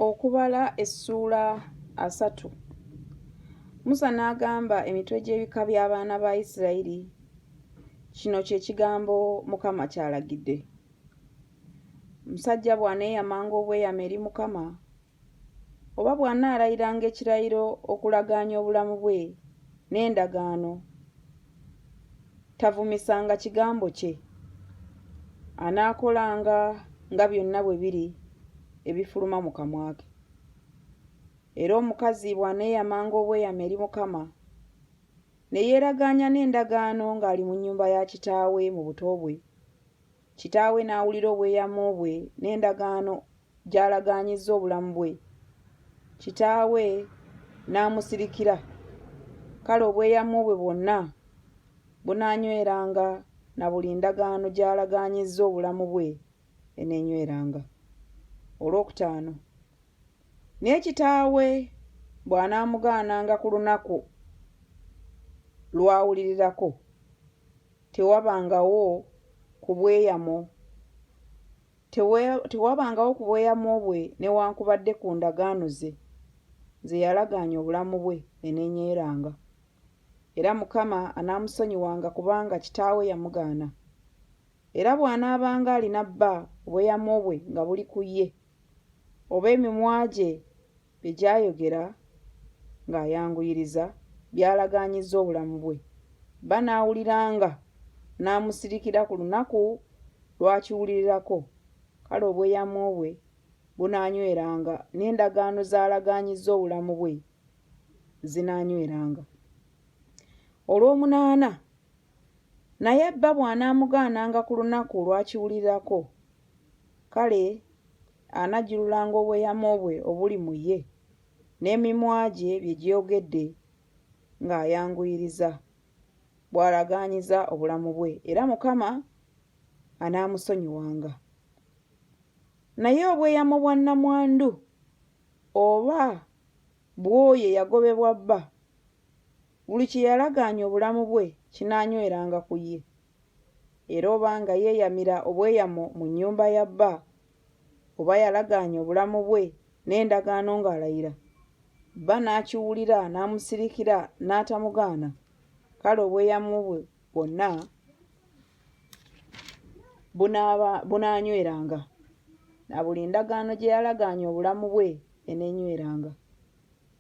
Okubala essuula asatu. Musa n'agamba emitwe gy'ebika by'abaana ba Isirayiri, Kino kye kigambo Mukama ky'alagidde. Musajja bw'aneeyamanga obweyamo eri Mukama, oba bw'anaalayiranga ekirayiro okulagaanya obulamu bwe n'endagaano Tavumisanga kigambo kye. Anaakolanga nga byonna bwe biri ebifuluma mu kamwa ke. Era omukazi bw'aneeyamanga obweyamo eri Mukama, ne yeeragaanya n'endagaano ng'ali mu nnyumba ya kitaawe mu buto bwe, Kitaawe n'awulira obweyamo bwe n'endagaano gy'alagaanyizza obulamu bwe. Kitaawe n'amusirikira, kale obweyamo bwe bwonna bunaanyweranga na buli ndagaano gy'alagaanyizza obulamu bwe eneenyweranga. Olwokutaano. Naye kitaawe bw'anaamugaananga ku lunaku lw'awulirirako. Tewabangawo ku bweyamo, tewe, tewabangawo ku bweyamo bwe newankubadde ku ndagaano ze, ze yalagaanya obulamu bwe enenyeeranga. Era Mukama anaamusonyiwanga kubanga kitaawe yamugaana. Era bw'anaabanga alina bba obweyamo bwe nga buli ku ye, oba emimwa gye, Bye gyayogera ng'ayanguyiriza byalagaanyizza obulamu bwe. Bba n'awuliranga n'amusirikira ku lunaku lw'akiwulirirako, kale obweyamo bwe bunaanyweranga n'endagaano z'alagaanyizza obulamu bwe zinaanyweranga. Olwomunaana Naye bba bw'anaamugaananga ku lunaku olwakiwulirirako, kale anajjululanga obweyamo bwe obuli mu ye, n'emimwa gye bye gyogedde ng'ayanguyiriza, bw'alagaanyiza obulamu bwe, era Mukama anaamusonyiwanga. Naye obweyamo bwa nnamwandu, oba bw'oyo eyagobebwa bba, Buli kye yalagaanya obulamu bwe kinaanyweranga ku ye. Era oba nga yeeyamira obweyamo mu nnyumba ya bba, oba yalagaanya obulamu bwe n'endagaano ng'alayira, bba n'akiwulira n'amusirikira n'atamugaana, kale obweyamo bwe bwonna bunaaba, bunaanyweranga, na buli ndagaano gye yalagaanya obulamu bwe enenyweranga.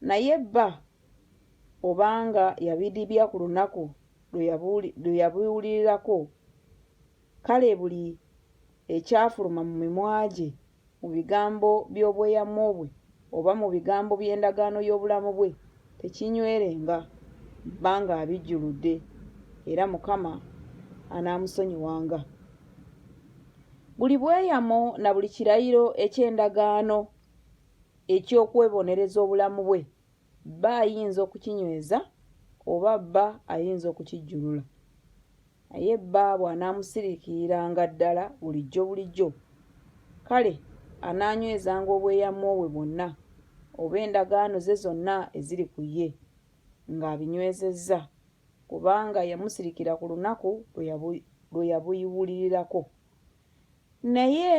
Naye bba obanga yabidibya ku lunaku lwe yabiwulirirako, kale buli ekyafuluma mu mimwa gye mu bigambo by'obweyamo bwe oba mu bigambo by'endagaano y'obulamu bwe tekinywerenga bba ng'abijjuludde, era Mukama anaamusonyiwanga. Buli bweyamo na buli kirayiro eky'endagaano eky'okwebonereza obulamu bwe, bba ayinza okukinyweza oba bba ayinza okukijjulula. Naye bba bw'anaamusiriikiriranga ddala bulijjo bulijjo, kale anaanywezanga obweyamo bwe bwonna oba endagaano ze zonna eziri ku ye, ng'abinywezezza, kubanga yamusirikira ku lunaku lwe yabuiwulirirako. Naye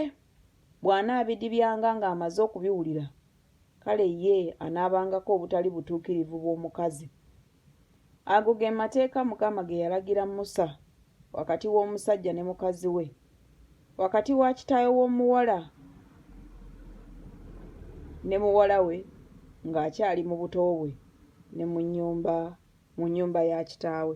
bw'anaabidibyanga ng'amaze okubiwulira, kale ye anaabangako obutali butuukirivu bw'omukazi. Ago ge mateeka Mukama ge yalagira Musa wakati w'omusajja ne mukazi we, wakati wa kitaawe w'omuwala ne muwala we ng'akyali mu buto bwe ne mu nnyumba mu nnyumba ya kitaawe.